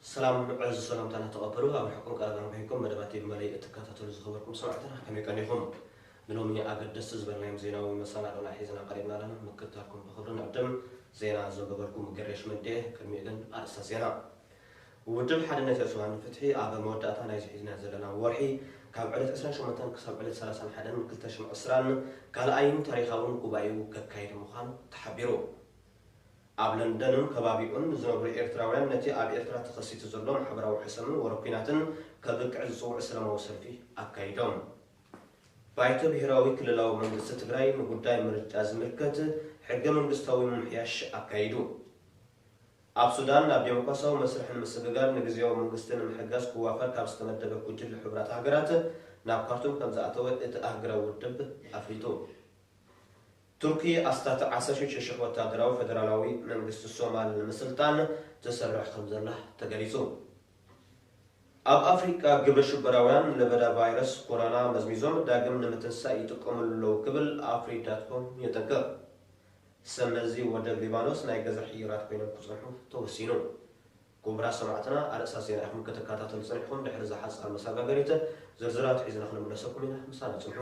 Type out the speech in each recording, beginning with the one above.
ሰላም ዕዙዝ ሰላምታና ተቐበሉ ኣብ ርሕቁን ቀረባን ኮይንኩም መደባት ቲቪ መለይ እትከታተሉ ዝኸበርኩም ሰማዕትና ከመይ ቀኒኹም ንሎሚ ኣገደስቲ ዝበልናዮም ዜናዊ መሰናዶና ሒዝና ቀሪብና ኣለና ምክትታልኩም ብኽብሪ ንዕድም ዜና ዘንበበልኩም ገሬሽ መንዴ ቅድሚኡ ግን ኣርእስተ ዜና ውድብ ሓድነት ኤርትራ ንፍትሒ ኣብ መወዳእታ ናይዚ ሒዝናዮ ዘለና ወርሒ ካብ ዕለት ዕስራን ሸሞንተን ክሳብ ዕለት ሰላሳን ሓደን ክልተ ሽሕን ዕስራን ካልኣይን ታሪኻውን ጉባኤኡ ከካይድ ምዃኑ ተሓቢሩ። ኣብ ለንደንን ከባቢኡን ንዝነብሩ ኤርትራውያን ነቲ ኣብ ኤርትራ ተኸሲቱ ዘሎ ማሕበራዊ ሕሰምን ወረ ኲናትን ከብቅዕ ዝጽውዕ ሰለማዊ ሰልፊ ኣካይዶም። ባይቶ ብሄራዊ ክልላዊ መንግስቲ ትግራይ ንጉዳይ ምርጫ ዝምልከት ሕገ መንግስታዊ ምምሕያሽ ኣካይዱ። ኣብ ሱዳን ናብ ዴሞክራሲያዊ መስርሕ ንምስግጋር ንግዝያዊ መንግስቲ ንምሕጋዝ ክዋፈር ካብ ዝተመደበ ጉጅለ ሕቡራት ሃገራት ናብ ካርቱም ከምዝኣተወ እቲ ኣህግራዊ ውድብ ኣፍሊጡ። ቱርኪ ኣስታት ዓሰርተ ሽዱሽተ ሽሕ ወታደራዊ ፈደራላዊ መንግስቲ ሶማል ንምስልጣን ትሰርሕ ከምዘላ ተገሊጹ። ኣብ ኣፍሪቃ ግብረ ሽበራውያን ለበዳ ቫይረስ ኮሮና መዝሚዞም ዳግም ንምትንሳእ ይጥቀምሉ ኣለዉ ክብል ኣፍሪዳትኮም የጠንቅቕ። ሰመዚ ወደብ ሊባኖስ ናይ ገዛ ሕዩራት ኮይኖም ክጸንሑ ተወሲኑ። ኩቡራት ሰማዕትና ኣርእስታት ዜና ኢኹም ክትካታተሉ ጸኒሕኩም ድሕሪ እዛ ሓጻር መሳጋገሪት ዝርዝራቱ ሒዝና ክንምለሰኩም ኢና ምሳና ጽንሑ።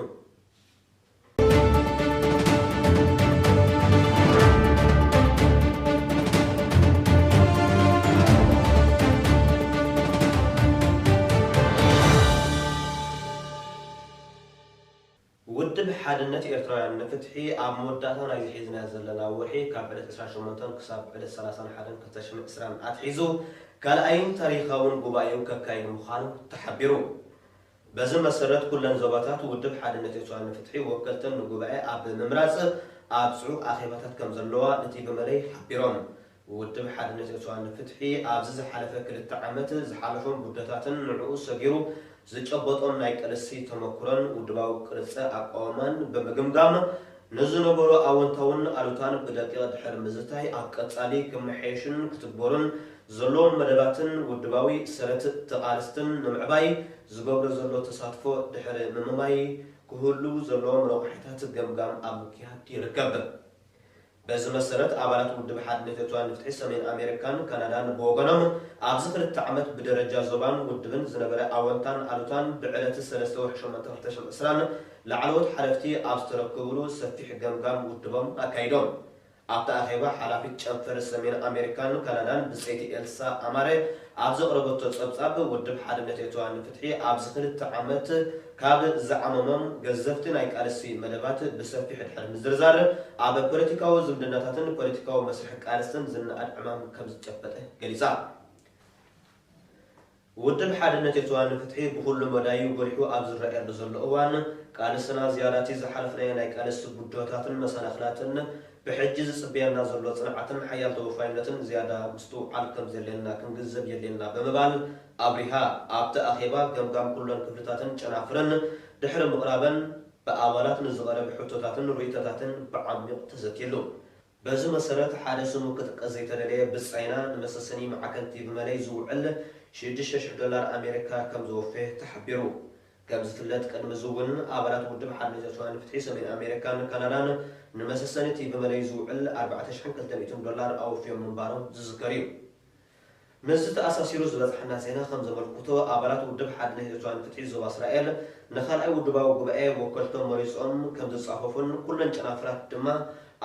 ውድብ ሓድነት ኤርትራውያን ንፍትሒ ኣብ መወዳእታ ናይዚ ሒዝናዮ ዘለና ወርሒ ካብ ዕለት ዕስራን ሸሞንተን ክሳብ ዕለት ሰላሳን ሓደን ክልተ ሽሕን ዕስራን ኣትሒዙ ካልኣይን ታሪኻውን ጉባኤኡ ከካይድ ምዃኑ ተሓቢሩ። በዚ መሰረት ኩለን ዞባታት ውድብ ሓድነት ኤርትራውያን ንፍትሒ ወከልተን ንጉባኤ ኣብ ምምራጽ ኣብ ጽዑቕ ኣኼባታት ከምዘለዋ ንቲቪ መለይ ሓቢሮም። ውድብ ሓድነት ኤርትራ ንፍትሒ ኣብዚ ዝሓለፈ ክልተ ዓመት ዝሓለፎም ጉድለታትን ንዕኡ ሰጊሩ ዝጨበጦም ናይ ቅልሲ ተመኩሮን ውድባዊ ቅርጸ ኣቋውማን ብምግምጋም ንዝነበሮ ኣወንታውን ኣሉታን ብደቂቕ ድሕሪ ምዝታይ ኣብ ቀጻሊ ክመሓየሹን ክትግበሩን ዘለዎም መደባትን ውድባዊ ሰረት ተቓልስትን ንምዕባይ ዝገብሮ ዘሎ ተሳትፎ ድሕሪ ምምማይ ክህልዉ ዘለዎም ረቋሒታት ገምጋም ኣብ ምክያድ ይርከብ። በዚ መሰረት ኣባላት ውድብ ሓድነት ኤርትራውያን ንፍትሒ ሰሜን ኣሜሪካን ካናዳን ብወገኖም ኣብዚ ክልተ ዓመት ብደረጃ ዞባን ውድብን ዝነበረ ኣወንታን ኣሉታን ብዕለቲ ሰለስተ ወርሒ ሸሞንተ ክልተ ሽሕን ዕስራን ላዕለዎት ሓለፍቲ ኣብ ዝተረከቡሉ ሰፊሕ ገምጋም ውድቦም ኣካይዶም። ኣብቲ ኣኼባ ሓላፊት ጨንፈር ሰሜን ኣሜሪካን ካናዳን ብጸይቲ ኤልሳ ኣማረ ኣብ ዘቕረበቶ ጸብጻብ ውድብ ሓድነት ኤርትራውያን ንፍትሒ ኣብዚ ክልተ ዓመት ካብ ዝዓመሞም ገዘፍቲ ናይ ቃልሲ መደባት ብሰፊሑ ድሕሪ ምዝርዛር፣ ኣብ ፖለቲካዊ ዝምድናታትን ፖለቲካዊ መስርሕ ቃልስን ዝነኣድ ዕማም ከም ዝጨበጠ ገሊጻ። ውድብ ሓድነት ኤርትራ ንፍትሒ ብኹሉ መዳዩ ጎሊሑ ኣብ ዝረኣየሉ ዘሎ እዋን፣ ቃልስና ዝያዳቲ ዝሓለፍናዮ ናይ ቃልሲ ብድሆታትን መሰናኽላትን፣ ብሕጂ ዝጽበየና ዘሎ ጽንዓትን ሓያል ተወፋይነትን ዝያዳ ምስትውዓል ከም ዘድልየና ክንግንዘብ የድልየና ብምባል ኣብሪሃ። ኣብቲ ኣኼባ ገምጋም ኩለን ክፍልታትን ጨናፍረን ድሕሪ ምቕራበን ብኣባላት ንዝቐረብ ሕቶታትን ርእይቶታትን ብዓሚቕ ተዘትየሉ። በዚ መሰረት ሓደ ስሙ ክጥቀስ ዘይተደለየ ብጻይና ንመሰሰኒ ማዕከን ቲቪ መለይ ዝውዕል ሽዱሽተ ሽሕ ዶላር ኣሜሪካ ከም ዘወፈየ ተሓቢሩ። ከም ዝፍለጥ ቅድሚ እዚ እውን ኣባላት ውድብ ሓርነት ኤርትራውያን ፍትሒ ሰሜን ኣሜሪካን ካናዳን ንመሰሰኒ ቲቪ መለይ ዝውዕል ኣርባዕተ ሽሕን ክልተ ሚእትን ዶላር ኣወፍዮም ምንባሮም ዝዝከር እዩ። ምስዚ ተኣሳሲሩ ዝበጽሓና ዜና ከም ዘመልኩቶ፣ ኣባላት ውድብ ሓድነት ኤርትራ ንፍትሒ ዞባ እስራኤል፣ ንካልኣይ ውድባዊ ጉባኤ ወከልቶም መሪጾም ከም ዝጻፈፉን ኩለን ጨናፍራት ድማ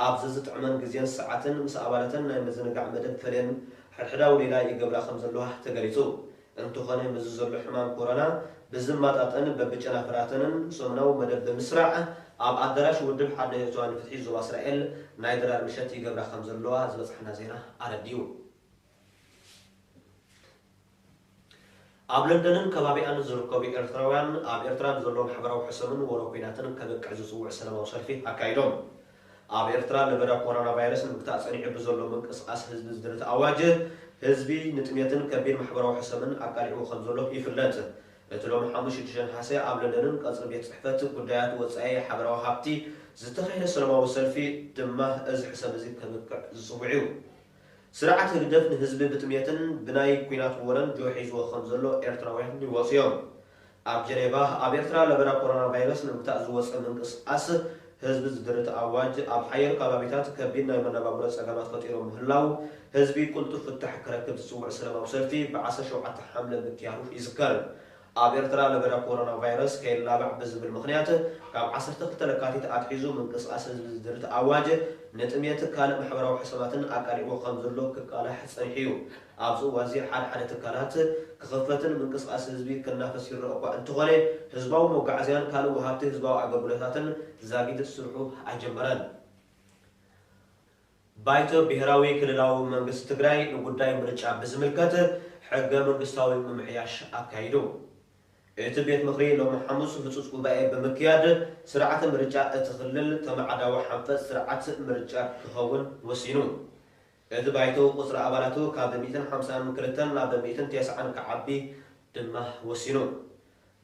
ኣብ ዘዝጥዕመን ግዜን ሰዓትን ምስ ኣባላተን ናይ ምዝንጋዕ መደብ ፈልየን ሕድሕዳዊ ሌላ ይገብራ ከም ዘለዋ ተገሊጹ። እንተኾነ ምስዚ ዘሎ ሕማም ኮሮና ብዝማጣጠን በብጨናፍራተንን ሰሙናዊ መደብ ብምስራዕ ኣብ ኣዳራሽ ውድብ ሓድነት ኤርትራ ንፍትሒ ዞባ እስራኤል ናይ ድራር ምሸት ይገብራ ከም ዘለዋ ዝበጽሓና ዜና ኣረዲኡ። ኣብ ለንደንን ከባቢኣን ዝርከቡ ኤርትራውያን ኣብ ኤርትራ ንዘሎ ማሕበራዊ ሕሰምን ወረ ኲናትን ከብቅዕ ዝጽውዕ ሰለማዊ ሰልፊ ኣካይዶም። ኣብ ኤርትራ ለበዳ ኮሮና ቫይረስ ንምግታእ ጸኒሑ ብዘሎ ምንቅስቓስ ህዝቢ ዝድርት ኣዋጅ፣ ህዝቢ ንጥሜትን ከቢድ ማሕበራዊ ሕሰምን ኣቃሊዕዎ ከምዘሎ ይፍለጥ። እቲ ሎሚ ሓሙስ ሽዱሽተ ነሓሰ ኣብ ለንደንን ቀጽሪ ቤት ጽሕፈት ጉዳያት ወጻኢ ሓበራዊ ሃብቲ ዝተኻየደ ሰለማዊ ሰልፊ ድማ እዚ ሕሰም እዚ ከብቅዕ ዝጽውዕ'ዩ። ስርዓት ህግደፍ ንህዝቢ ብጥሜትን ብናይ ኩናት ወረን ጆ ሒዝዎ ከም ዘሎ ኤርትራውያን ይወጹ እዮም። ኣብ ጀኔቫ ኣብ ኤርትራ ለበዳ ኮሮና ቫይረስ ንምግታእ ዝወጸ ምንቅስቓስ ህዝቢ ዝድርት ኣዋጅ ኣብ ሓየሎ ካባቢታት ከቢድ ናይ መነባብሮ ጸገማት ፈጢሩ ምህላው ህዝቢ ቅልጡፍ ፍታሕ ክረክብ ዝጽውዕ ሰለማዊ ሰልፊ ብ ዓሰርተ ሸውዓተ ሓምለ ምክያዱ ይዝከር። ኣብ ኤርትራ ለበዳ ኮሮና ቫይረስ ከይላባዕ ብዝብል ምኽንያት ካብ ዓሰርተ ክልተ ለካቲት ኣትሒዙ ምንቅስቓስ ህዝቢ ዝድርት ኣዋጅ ንጥምየት ካልእ ማሕበራዊ ሕሰማትን ኣቃሊዕዎ ከም ዘሎ ክቃላሕ ጸኒሑ'ዩ። ኣብዚ እዋንዚ ሓደ ሓደ ትካላት ክኽፈትን ምንቅስቓስ ህዝቢ ክናፈስ ይረኣ'ኳ እንተኾነ ህዝባዊ መጓዓዝያን ካልእ ወሃብቲ ህዝባዊ ኣገልግሎታትን ዛጊት ስርሑ ኣይጀመረን። ባይቶ ብሄራዊ ክልላዊ መንግስቲ ትግራይ ንጉዳይ ምርጫ ብዝምልከት ሕገ መንግስታዊ ምምሕያሽ ኣካይዱ። እቲ ቤት ምኽሪ ሎሚ ሓሙስ ህፁፅ ጉባኤ ብምክያድ ስርዓተ ምርጫ እቲ ክልል ተመዓዳዊ ሓንፈፅ ስርዓት ምርጫ ክኸውን ወሲኑ። እቲ ባይቶ ቁፅሪ ኣባላቱ ካብ ሚእትን ሓምሳን ክልተን ናብ ሚእትን ቴስዓን ክዓቢ ድማ ወሲኑ።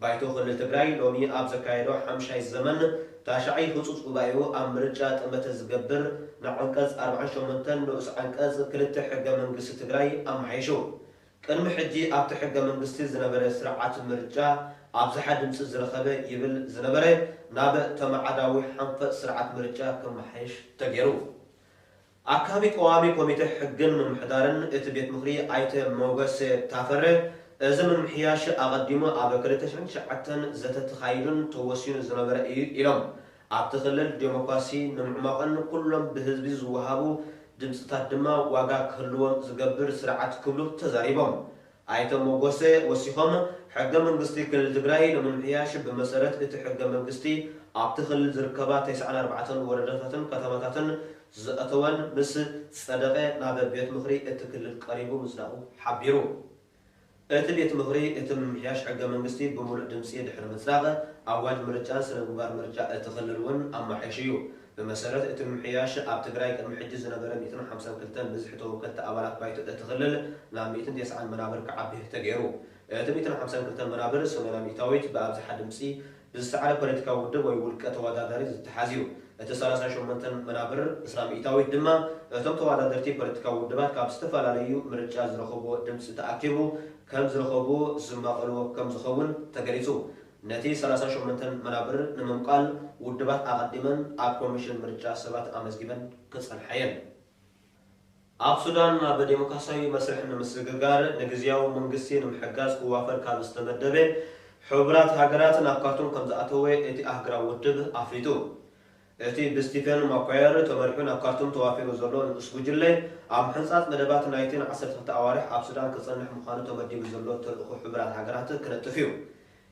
ባይቶ ክልል ትግራይ ሎሚ ኣብ ዘካየዶ ሓምሻይ ዘመን ታሽዓይ ህፁፅ ጉባኤኡ ኣብ ምርጫ ጠመተ ዝገብር ንዓንቀፅ ኣርባዓን ሸሞንተን ንኡስ ዓንቀፅ ክልተ ሕገ መንግስቲ ትግራይ ኣመሓይሹ። ቅድሚ ሕጂ ኣብቲ ሕገ መንግስቲ ዝነበረ ስርዓት ምርጫ ኣብዝሓ ድምፂ ዝረኸበ ይብል ዝነበረ ናብ ተመዓዳዊ ሓንፈፅ ስርዓት ምርጫ ክመሓየሽ ተገይሩ። ኣካቢ ቀዋሚ ኮሚቴ ሕግን ምምሕዳርን እቲ ቤት ምኽሪ ኣይተ ሞገስ ታፈረ፣ እዚ ምምሕያሽ ኣቐዲሙ ኣብ ክልተ ሽሕን ትሽዓተን ዘተ ተኻይዱን ተወሲኑ ዝነበረ ኢዩ ኢሎም። ኣብቲ ክልል ዴሞክራሲ ንምዕሟቕን ኩሎም ብህዝቢ ዝወሃቡ ድምፅታት ድማ ዋጋ ክህልዎም ዝገብር ስርዓት ክብሉ ተዛሪቦም። ኣይተ ሞጎሰ ወሲኾም፣ ሕገ መንግስቲ ክልል ትግራይ ንምምሕያሽ ብመሰረት እቲ ሕገ መንግስቲ ኣብቲ ክልል ዝርከባ ተስዓን ኣርባዕተን ወረዳታትን ከተማታትን ዝዘእተወን ምስ ፀደቐ ናብ ቤት ምኽሪ እቲ ክልል ቀሪቡ ምፅዳቑ ሓቢሩ። እቲ ቤት ምኽሪ እቲ ምምሕያሽ ሕገ መንግስቲ ብሙሉእ ድምፂ ድሕሪ ምፅዳቕ ኣዋጅ ምርጫን ስነ ምግባር ምርጫ እቲ ክልል እውን ኣማሒሹ እዩ። ብመሰረት እቲ ምምሕያሽ፣ ኣብ ትግራይ ቅድሚ ሕጂ ዝነበረ ሚእትን ሓምሳን ክልተን ብዝሒ ተወከልቲ ኣባላት ባይቶ እቲ ክልል ናብ ሚእትን ቴስዓን መናብር ክዓቢ ተገይሩ። እቲ ሚእትን ሓምሳን ክልተን መናብር፣ ሰማንያ ሚእታዊት፣ ብኣብዝሓ ድምጺ ብዝሰዓረ ፖለቲካዊ ውድብ ወይ ውልቀ ተወዳዳሪ ዝተሓዝ እዩ። እቲ ሰላሳን ሸሞንተን መናብር፣ ዕስራ ሚእታዊት፣ ድማ እቶም ተወዳደርቲ ፖለቲካዊ ውድባት ካብ ዝተፈላለዩ ምርጫ ዝረኸቡዎ ድምጺ ተኣኪቡ ከም ዝረኸቡዎ ዝማቐሉዎ ከም ዝኸውን ተገሊጹ። ነቲ ሰላሳ ሸሞንተን መናብር ንምምቃል ውድባት ኣቐዲመን ኣብ ኮሚሽን ምርጫ ሰባት ኣመዝጊበን ክጸንሓ እየን። ኣብ ሱዳን ናብ ደሞክራሲያዊ መስርሕ ንምስግጋር ንግዝያዊ መንግስቲ ንምሕጋዝ ክዋፈር ካብ ዝተመደበ ሕቡራት ሃገራት ናብ ካርቱም ከምዝኣተወ እቲ ኣህግራዊ ውድብ ኣፍሊጡ። እቲ ብስቲፈን ማኳየር ተመሪሑ ናብ ካርቱም ተዋፊሩ ዘሎ ንኡስ ጉጅለ፣ ኣብ ምሕንጻጽ መደባት ናይቲ ንዓሰርተ ክልተ ኣዋርሕ ኣብ ሱዳን ክጸንሕ ምዃኑ ተመዲቡ ዘሎ ተልእኾ ሕቡራት ሃገራት ክነጥፍ እዩ።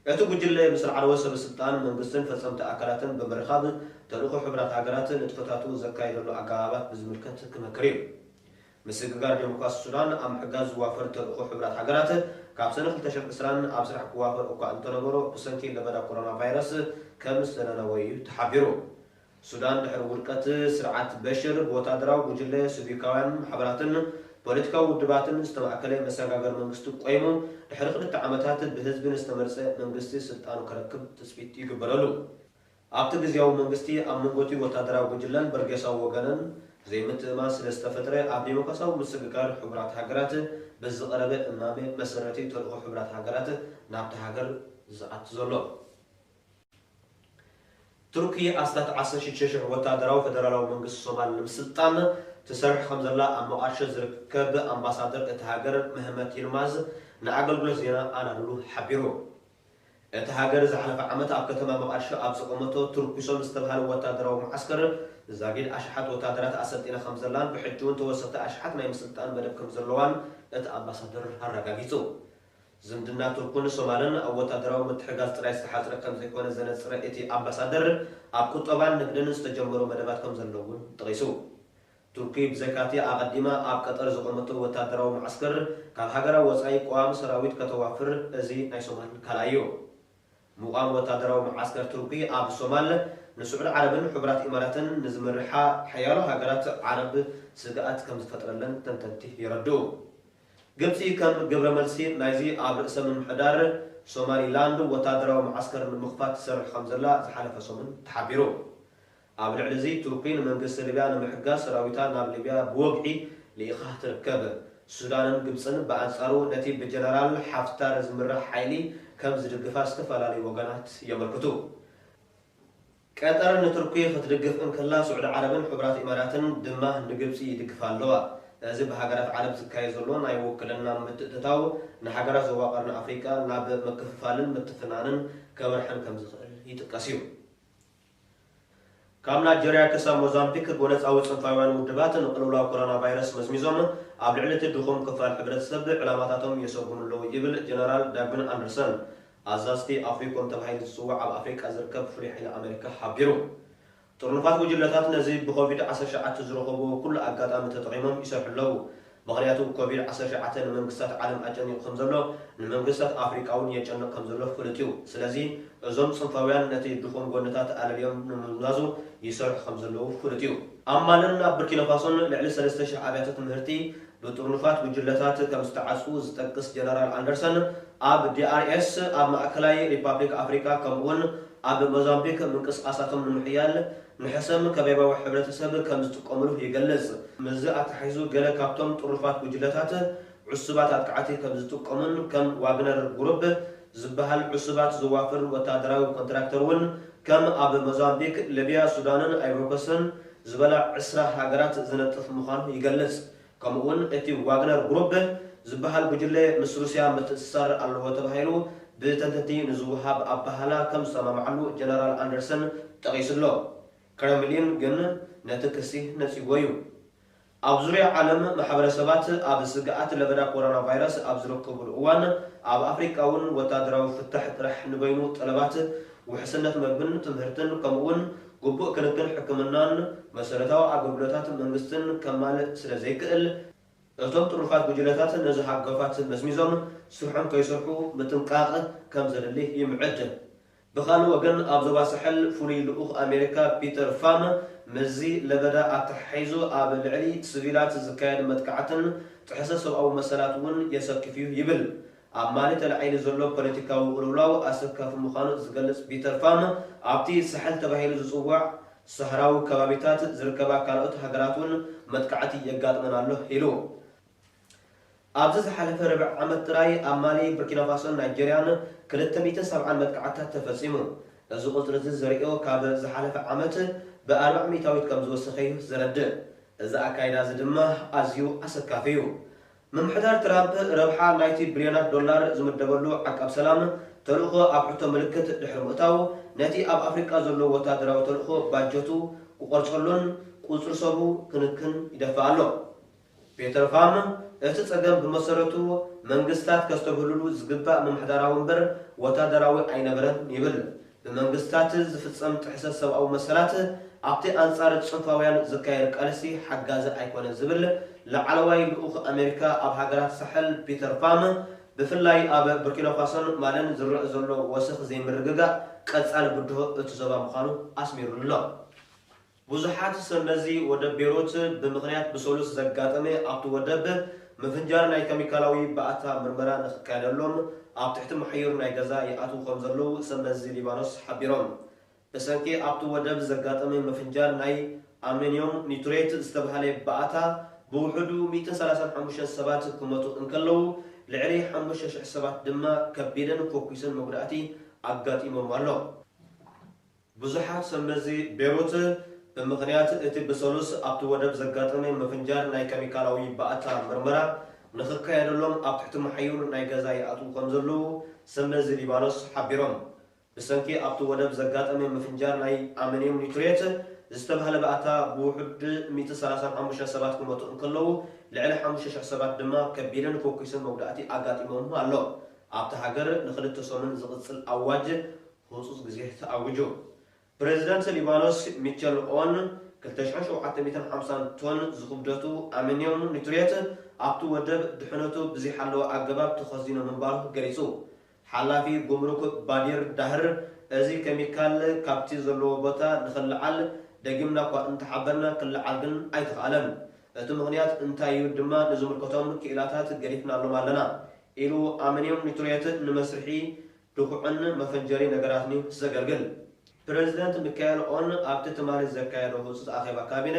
እቲ ጉጅለ፣ ምስ ላዕለዎት ሰበስልጣን መንግስትን ፈጸምቲ ኣካላትን ብምርኻብ፣ ተልእኾ ሕቡራት ሃገራት ንጥፈታቱ ዘካይደሉ ኣገባባት ብዝምልከት ክመክር እዩ። ምስግጋር ደሞክራሲ ሱዳን ኣብ ምሕጋዝ ዝዋፈር ተልእኾ ሕቡራት ሃገራት፣ ካብ ሰነ ክልተ ሽሕ ዕስራን ኣብ ስራሕ ክዋፈር እኳ እንተነበሮ፣ ብሰንኪ ለበዳ ኮሮናቫይረስ ከም ዝተነነወ እዩ ተሓቢሩ። ሱዳን ድሕሪ ውድቀት ስርዓት በሽር፣ ብወተሃደራዊ ጉጅለ፣ ስቪካውያን ማሕበራትን ፖለቲካዊ ውድባትን ዝተማእከለ መሰጋገሪ መንግስቲ ቆይሙ፣ ድሕሪ ክልተ ዓመታት ብህዝቢ ንዝተመርጸ መንግስቲ ስልጣኑ ከረክብ ትጽቢት ይግበረሉ። ኣብቲ ግዝያዊ መንግስቲ ኣብ መንጎቲ ወታደራዊ ጉጅለን በርጌሳዊ ወገንን ዘይምትእምማን ስለ ዝተፈጥረ ኣብ ዴሞክራሲያዊ ምስግጋር ሕቡራት ሃገራት ብዝቐረበ እማመ መሰረት'ዩ ተልእኾ ሕቡራት ሃገራት ናብታ ሃገር ዝኣቲ ዘሎ። ቱርኪ ኣስታት ዓሰርተ ሽዱሽተ ሽሕ ወታደራዊ ፈደራላዊ መንግስቲ ሶማል ንምስልጣን ትሰርሕ ከም ዘላ ኣብ ሞቓድሾ ዝርከብ ኣምባሳደር እታ ሃገር መህመት ይልማዝ ንኣገልግሎት ዜና ኣናዱሉ ሓቢሩ። እታ ሃገር ዝሓለፈ ዓመት ኣብ ከተማ መቓድሾ ኣብ ዘቖመቶ ትርኲሶም ዝተብሃለ ወታደራዊ መዓስከር ዛጊድ ኣሽሓት ወታደራት ኣሰልጢና ከምዘላን ብሕጂ'ውን ተወሰኽቲ ኣሽሓት ናይ ምስልጣን መደብ ከምዘለዋን እቲ ኣምባሳደር ኣረጋጊጹ። ዝምድና ቱርክን ሶማልን ኣብ ወታደራዊ ምትሕጋዝ ጥራይ ዝተሓጽረ ከምዘይኮነ ዘነጽረ እቲ ኣምባሳደር፣ ኣብ ቁጠባን ንግድን ዝተጀመሩ መደባት ከምዘለዉ'ውን ጠቒሱ። ቱርኪ ብዘይካ'ቲ ኣቐዲማ ኣብ ቀጠር ዘቖመቶ ወታደራዊ መዓስከር፣ ካብ ሃገራ ወጻኢ ቀዋሚ ሰራዊት ከተዋፍር እዚ ናይ ሶማል ካልኣይ'ዩ። ምቛም ወታደራዊ መዓስከር ቱርኪ ኣብ ሶማል፣ ንስዑድ ዓረብን ሕቡራት ኢማራትን ንዝመርሓ ሓያሎ ሃገራት ዓረብ ስግኣት ከምዝፈጥረለን ተንተንቲ የረድኡ። ግብጺ ከም ግብረመልሲ ናይዚ ኣብ ርእሰ ምምሕዳር ሶማሊላንድ ወታደራዊ መዓስከር ንምኽፋት ትሰርሕ ከምዘላ ዝሓለፈ ሰሙን ተሓቢሩ። ኣብ ልዕሊ እዚ ቱርኪ ንመንግስቲ ሊብያ ንምሕጋዝ ሰራዊታ ናብ ሊብያ ብወግዒ ልኢኻ ትርከብ። ሱዳንን ግብጽን ብኣንጻሩ ነቲ ብጀነራል ሓፍታር ዝምራሕ ሓይሊ ከም ዝድግፋ ዝተፈላለዩ ወገናት የመልክቱ። ቀጠር ንቱርኪ ክትድግፍ እንከላ ስዑዲ ዓረብን ሕቡራት ኢማራትን ድማ ንግብጺ ይድግፋ ኣለዋ። እዚ ብሃገራት ዓረብ ዝካየድ ዘሎ ናይ ውክልና ምትእትታው ንሃገራት ዞባ ቀርኒ ኣፍሪቃ ናብ ምክፍፋልን ምትፍናንን ከምርሐን ከም ዝኽእል ይጥቀስ እዩ። ካብ ናይጀርያ ክሳብ ሞዛምቢክ፣ ጎነጻዊ ጽንፋውያን ውድባት ንቅልውላው ኮሮናቫይረስ መዝሚዞም፣ ኣብ ልዕሊ እቲ ድኹም ክፋል ሕብረተሰብ ዕላማታቶም የሰጉሙ ኣለዉ ይብል ጀነራል ዳግዊን ኣንደርሰን፣ ኣዛዚ'ቲ ኣፍሪኮም ተባሂሉ ዝጽዋዕ ኣብ ኣፍሪቃ ዝርከብ ፍሉይ ሓይሊ ኣመሪካ ሓቢሩ። ጥርኑፋት ጉጅለታት ነዚ ብኮቪድ ዓሰርተ ትሽዓተ ዝረኸቡዎ ኩሉ ኣጋጣሚ ተጠቒሞም ይሰርሑ ኣለዉ። ምኽንያቱ ኮቪድ ዓሰርተ ሸውዓተ ንመንግስታት ዓለም ኣጨኒቑ ከም ዘሎ ንመንግስታት ኣፍሪቃ ውን የጨንቕ ከም ዘሎ ፍሉጥ ዩ። ስለዚ እዞም ጽንፋውያን ነቲ ድኹም ጎንታት ኣለልዮም ንምምዛዙ ይሰርሑ ከም ዘለዉ ፍሉጥ ዩ። ኣብ ማልን ኣብ ብርኪናፋሶን ልዕሊ ሰለስተ ሽሕ ኣብያተ ትምህርቲ ብጥርኑፋት ጉጅለታት ከም ዝተዓጽዉ ዝጠቅስ ጀነራል ኣንደርሰን ኣብ DRS ኣብ ማእከላይ ሪፓብሊክ ኣፍሪቃ ከምኡ ውን ኣብ ሞዛምቢክ ምንቅስቓሳቶም ንምሕያል ንሕሰም ከበባዊ ሕብረተሰብ ከም ዝጥቀምሉ ይገልጽ። ምስዚ ኣተሓሒዙ ገለ ካብቶም ጥሩፋት ጉጅለታት ዕሱባት ኣጥቃዕቲ ከም ዝጥቀሙን ከም ዋግነር ጉሩፕ ዝበሃል ዕሱባት ዘዋፍር ወተሃደራዊ ኮንትራክተር እውን ከም ኣብ ሞዛምቢክ፣ ልብያ፣ ሱዳንን ኣይቮሪኮስትን ዝበላ ዕስራ ሃገራት ዝነጥፍ ምዃኑ ይገልጽ። ከምኡ'ውን እቲ ዋግነር ጉሩብ ዝበሃል ጉጅለ ምስ ሩስያ ምትእስሳር ኣለዎ ተባሂሉ ብተንተንቲ ንዝወሃብ ኣበሃህላ ከም ዝሰማምዓሉ ጀነራል ኣንደርሰን ጠቒሱ ኣሎ። ክረምሊን ግን ነቲ ክሲ ነጺግዎ'ዩ። ኣብ ዙርያ ዓለም ማሕበረሰባት ኣብ ስግኣት ለበዳ ኮሮናቫይረስ ኣብ ዝርከቡሉ እዋን፣ ኣብ ኣፍሪቃ'ውን ወተሃደራዊ ፍታሕ ጥራሕ ንበይኑ ጠለባት ውሕስነት መግብን ትምህርትን ከምኡ'ውን ግቡእ ክንክን ሕክምናን መሰረታዊ ኣገልግሎታት መንግስትን ከማልእ ስለ ዘይክእል፣ እቶም ጥሩፋት ጉጅለታት ነዚ ሃጓፋት መዝሚዞም ስርሖም ከይሰርሑ ምጥንቃቕ ከም ዘድሊ ይምዕድ። ብኻልእ ወገን ኣብ ዞባ ሳሕል ፍሉይ ልኡኽ ኣሜሪካ ፒተር ፋም ምስዚ ለበዳ ኣተሓሒዙ ኣብ ልዕሊ ስቪላት ዝካየድ መጥቃዕትን ጥሕሰት ሰብኣዊ መሰላት'ውን የሰክፍ'ዩ ይብል። ኣብ ማሊ ተላዒሉ ዘሎ ፖለቲካዊ ቅልውላው ኣሰካፊ ምዃኑ ዝገልጽ ፒተር ፋም፣ ኣብቲ ሳሕል ተባሂሉ ዝጽዋዕ ሳህራዊ ከባቢታት ዝርከባ ካልኦት ሃገራት'ውን መጥቃዕቲ የጋጥመን ኣሎ ኢሉ። ኣብዚ ዝሓለፈ ርብዒ ዓመት ጥራይ ኣብ ማሊ፣ ቡርኪናፋሶን ናይጀርያን ክልተ ሚእትን ሰብዓን መጥቃዕትታት ተፈጺሙ። እዚ ቁጽሪ'ዚ ዝርኦ ካብ ዝሓለፈ ዓመት ብኣርብዓ ሚእታዊት ከምዝወሰኸ'ዩ ዘረድእ። እዚ ኣካይዳ'ዚ ድማ ኣዝዩ ኣሰካፊ'ዩ። ምምሕዳር ትራምፕ ረብሓ ናይቲ ብልዮናት ዶላር ዝምደበሉ ዓቃብ ሰላም ተልእኾ ኣብ ሕቶ ምልክት ድሕሪ ምእታዉ፣ ነቲ ኣብ ኣፍሪቃ ዘሎ ወተሃደራዊ ተልእኾ ባጀቱ ክቖርጸሉን ቁጽሪ ሰቡ ክንክን ይደፍእ ኣሎ። ፔተር ፋም፣ እቲ ጸገም ብመሰረቱ መንግስታት ከስተብህልሉ ዝግባእ ምምሕዳራዊ እምበር ወተሃደራዊ ኣይነበረን ይብል። ብመንግስታት ዝፍጸም ጥሕሰት ሰብኣዊ መሰላት ኣብቲ ኣንጻር ጽንፋውያን ዝካየድ ቃልሲ ሓጋዚ ኣይኮነን ዝብል ላዕለዋይ ልኡኽ ኣሜሪካ ኣብ ሃገራት ሳሕል ፒተር ፋም ብፍላይ ኣብ ቡርኪናፋሶን ማልን ዝረእ ዘሎ ወሰኽ ዘይምርግጋእ ቀጻሊ ብድሆ እቲ ዞባ ምዃኑ ኣስሚሩሉ'ሎ። ብዙሓት ሰብ መዚ ወደብ ቤሩት ብምኽንያት ብሰሉስ ዘጋጠመ ኣብቲ ወደብ ምፍንጃር ናይ ከሚካላዊ ባእታ ምርመራ ንኽካየደሎም ኣብ ትሕቲ ማሕዩር ናይ ገዛ ይኣትዉ ከምዘለዉ ሰብ መዚ ሊባኖስ ሓቢሮም። ብሰንኪ ኣብቲ ወደብ ዘጋጠመ ምፍንጃር ናይ ኣመንዮም ኒቱሬት ዝተብሃለ ባእታ ብውሑዱ ሚእትን ሰላሳን ሓሙሽተን ሰባት ክመቱ እንከለዉ ልዕሊ ሓሙሽተ ሽሕ ሰባት ድማ ከቢድን ፎኪስን መጉዳእቲ ኣጋጢሞም ኣሎ። ብዙሓት ሰብ መዚ ቤሩት፣ ብምኽንያት እቲ ብሰሉስ ኣብቲ ወደብ ዘጋጠመ ምፍንጃር ናይ ከሚካላዊ ባእታ ምርመራ ንኽካየደሎም ኣብ ትሕቲ መሓዩር ናይ ገዛ ይኣትዉ ከምዘለዉ ሰብ መዚ ሊባኖስ ሓቢሮም። ብሰንኪ ኣብቲ ወደብ ዘጋጠመ ምፍንጃር ናይ ኣመንዩም ኒትሬት ዝተባህለ ባእታ ብውሑድ ሚእቲ ሰላሳን ሓሙሽተን ሰባት ክሞቱ እንከለዉ ልዕሊ ሓሙሽተ ሽሕ ሰባት ድማ ከቢድን ፎኪስን መጉዳእቲ ኣጋጢሞም ኣሎ። ኣብታ ሃገር ንኽልተ ሰሙን ዝቕጽል ኣዋጅ ህጹጽ ግዜ ተኣዊጁ። ፕረዚደንት ሊባኖስ ሚቸል ኦን ክልተ ሽሕን ሸውዓተ ሚእትን ሓምሳን ቶን ዝኽብደቱ ኣመንዩም ኒትሬት ኣብቲ ወደብ ድሕነቱ ብዘይሓለወ ኣገባብ ተኸዚኑ ምንባሩ ገሊጹ። ሓላፊ ጉምሩክ ባዲር ዳህር እዚ ከሚካል ካብቲ ዘለዎ ቦታ ንኽለዓል ደጊምና'ኳ እንተሓበርና ክለዓል ግን ኣይተኻእለን። እቲ ምኽንያት እንታይ'ዩ ድማ ንዝምልከቶም ክኢላታት ገዲፍናሎም ኣለና ኢሉ ኣመንዩም ኒትሬት ንመስርሒ ድኹዕን መፈንጀሪ ነገራትን'ዩ ዘገልግል። ፕረዚደንት ሚካኤል ኦን ኣብቲ ትማሊ ዘካየዶ ህጹጽ ኣኼባ ካቢነ፣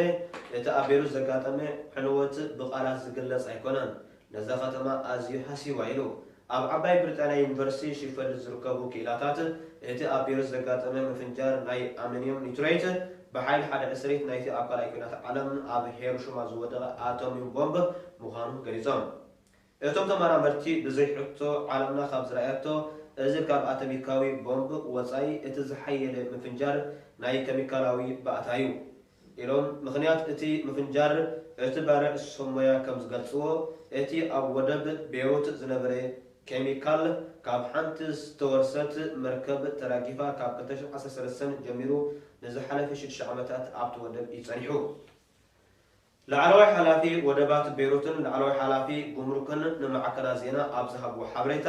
እቲ ኣብ ቤሩት ዘጋጠመ ዕንወት ብቓላት ዝግለጽ ኣይኮነን፣ ነዛ ከተማ ኣዝዩ ሃስይዋ ኢሉ። ኣብ ዓባይ ብሪጣንያ ዩኒቨርሲቲ ሺፈልድ ዝርከቡ ክኢላታት፣ እቲ ኣብ ቤሩት ዘጋጠመ ምፍንጃር ናይ ኣሚንዩም ኒትረይት፣ ብሓይሊ ሓደ ዕስሪት ናይቲ ኣብ ካልኣይ ኲናት ዓለም ኣብ ሄሮሽማ ዝወደቐ ኣቶምዩም ቦምብ ምዃኑ ገሊጾም። እቶም ተመራመርቲ ብዘይ ሕቶ ዓለምና ካብ ዝረኣየቶ እዚ ካብ ኣተሚካዊ ቦምብ ወጻኢ እቲ ዝሓየለ ምፍንጃር ናይ ከሚካላዊ ባእታ'ዩ ኢሎም። ምኽንያት እቲ ምፍንጃር እቲ ባርዕ ሰብ ሞያ ከም ዝገልጽዎ እቲ ኣብ ወደብ ቤሩት ዝነበረ ከሚካል ካብ ሓንቲ ዝተወርሰት መርከብ ተራጊፋ ካብ ክልተ ሽሕ ዓሰርተ ሰለስተ ጀሚሩ ንዝሓለፈ ሽዱሽተ ዓመታት ኣብቲ ወደብ እዩ ጸኒሑ። ላዕለዋይ ሓላፊ ወደባት ቤሩትን ላዕለዋይ ሓላፊ ጉምሩክን ንማዕከናት ዜና ኣብ ዝሃብዎ ሓበሬታ፣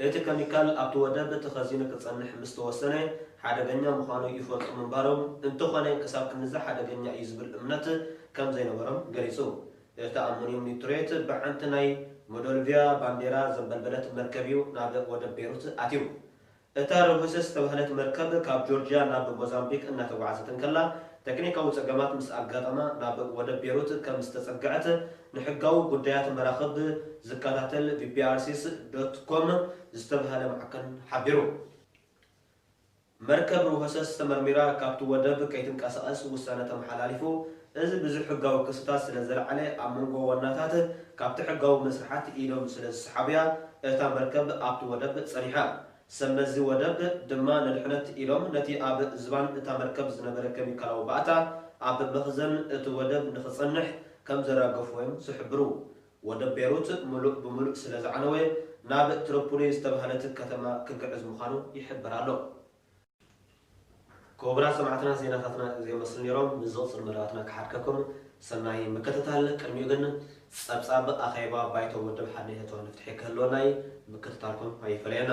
እቲ ከሚካል ኣብቲ ወደብ ተኸዚኑ ክጸንሕ ምስ ተወሰነ ሓደገኛ ምዃኑ ይፈልጡ ምንባሮም፣ እንተኾነ ክሳብ ክንድዚ ሓደገኛ እዩ ዝብል እምነት ከም ዘይነበሮም ገሊጹ። እቲ ኣሞንዩም ኒትሬት ብሓንቲ ናይ ሞዶልቪያ ባንዴራ ዘንበልበለት መርከብ'ዩ ናብ ወደብ ቤሩት ኣትዩ። እታ ርሁሰ ዝተባህለት መርከብ ካብ ጆርጅያ ናብ ሞዛምቢክ እናተጓዕዘት እንከላ ተክኒካዊ ጸገማት ምስ ኣጋጠማ ናብ ወደብ ቤሩት ከም ዝተጸግዐት ንሕጋዊ ጉዳያት መራኽብ ዝከታተል ቢቢኣርሲስ ዶት ኮም ዝተባህለ ማዕከን ሓቢሩ። መርከብ ርሆሰስ ተመርሚራ ካብቲ ወደብ ከይትንቀሳቐስ ውሳነ ተመሓላሊፉ እዚ ብዙሕ ሕጋዊ ክስታት ስለ ዘልዓለ ኣብ መንጎ ዋናታት ካብቲ ሕጋዊ መስርሓት ኢዶም ስለ ዝሰሓቡ'ያ እታ መርከብ ኣብቲ ወደብ ጸኒሓ። ሰብ መዚ ወደብ ድማ ንድሕነት ኢሎም ነቲ ኣብ ዝባን እታ መርከብ ዝነበረ ከሚካላዊ ባእታ ኣብ መኽዘን እቲ ወደብ ንኽጸንሕ ከም ዘራገፉዎ'ዮም ዝሕብሩ። ወደብ ቤሩት ምሉእ ብምሉእ ስለ ዝዓነወ ናብ ትርፑሊ ዝተባህለት ከተማ ክግዕዝ ምዃኑ ይሕበር ኣሎ። ኩቡራት ሰማዕትና ዜናታትና እዚኦም መስሉ ኔሮም ንዝቕጽል መደባትና ክሓድከኩም ሰናይ ምክትታል ቅድሚኡ ግን ጸብጻብ ኣኼባ ባይቶ ውድብ ሓድነት ኤርትራ ንፍትሒ ክህልወና እዪ ምክትታልኩም ኣይፈለየና።